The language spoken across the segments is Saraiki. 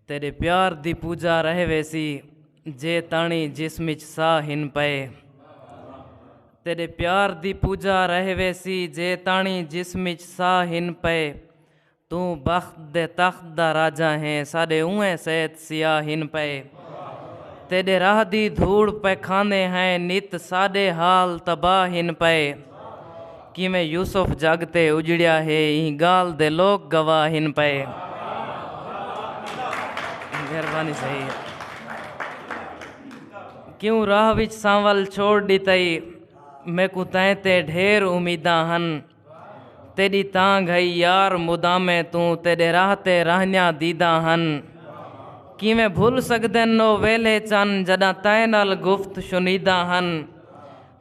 تیݙے پیار دی پوجا رہ ویسی جے تاݨی جسم اچ ساہ ہن پئے۔ تیݙے پیار دی پوجا رہ ویسی جے تاݨی جسم اچ ساہ ہن پئے۔ توں بخت دے تخت دا راجہ ہیں ساݙے اونہہ سیت سیاہ ہن پئے۔ تیݙے راہ دی دھوڑ پیکھاندے ہیں نت ساݙے حال تباہ ہن پئے۔ کیویں یوسف جگ تے اجڑیا ہے ایں گالھ دے لوک گواہ ہن پئے۔ مہربانی صحیح ہے۔ کیوں راہ وچ سانول چھوڑ ڈتائی میکوں تیں تے ڈھیر امیداں ہن تیڈی تانگھ ہئی یار مدامے توں تیڈے راہ تے راہنیاں دیداں ہن کیویں بھل سگدن او ویلھے چن جڈاں تیں نال گفت شنیداں ہن۔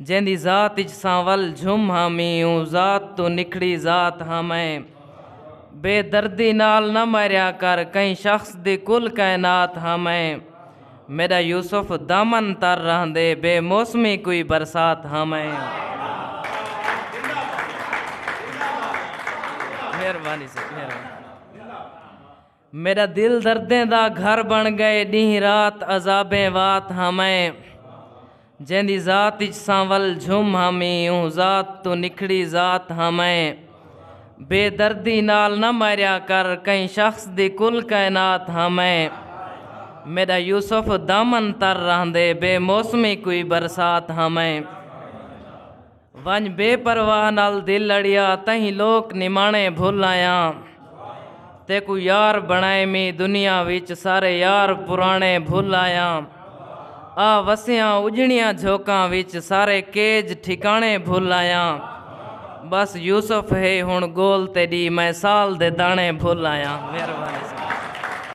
جیندی ذات اچ ساں ول جھم ہاں میوں ذات توں نکھڑی ذات ہاں میں بے دردی نال نہ میریا کر کہیں شخص دی کل کائنات ہاں میں میڈا یوسف دامن تر رہندے بے موسمی کوئی برسات ہاں میں۔ میݙا دل دردیں دا گھر بݨ ڳئے ݙینہہ رات عذابیں وات ہاں میں جیندی ذات اچ ساں ول جھم ہامی اوں ذات توں نکھڑی ذات ہاں میں بے دردی نال نہ ماریا کر کہیں شخص دی کل کائنات ہاں میں میݙا یوسف دامن تر رہندے بے موسمی کوئی برسات ہاں میں۔ ونڄ بے پرواہ نال دل اڑیا تئیں لوک نماݨے بھل آیاں تیکوں یار بݨائے میں دنیا وچ سارے یار پراݨے بھل آیاں آ وسیاں اجڑیاں جھوکاں وچ سارے کیج ٹھکاݨے بھل آیاں بس یوسف ہے ہݨ گول تیݙی میں سال دے داݨے بھل آیاں مہربانی ساں۔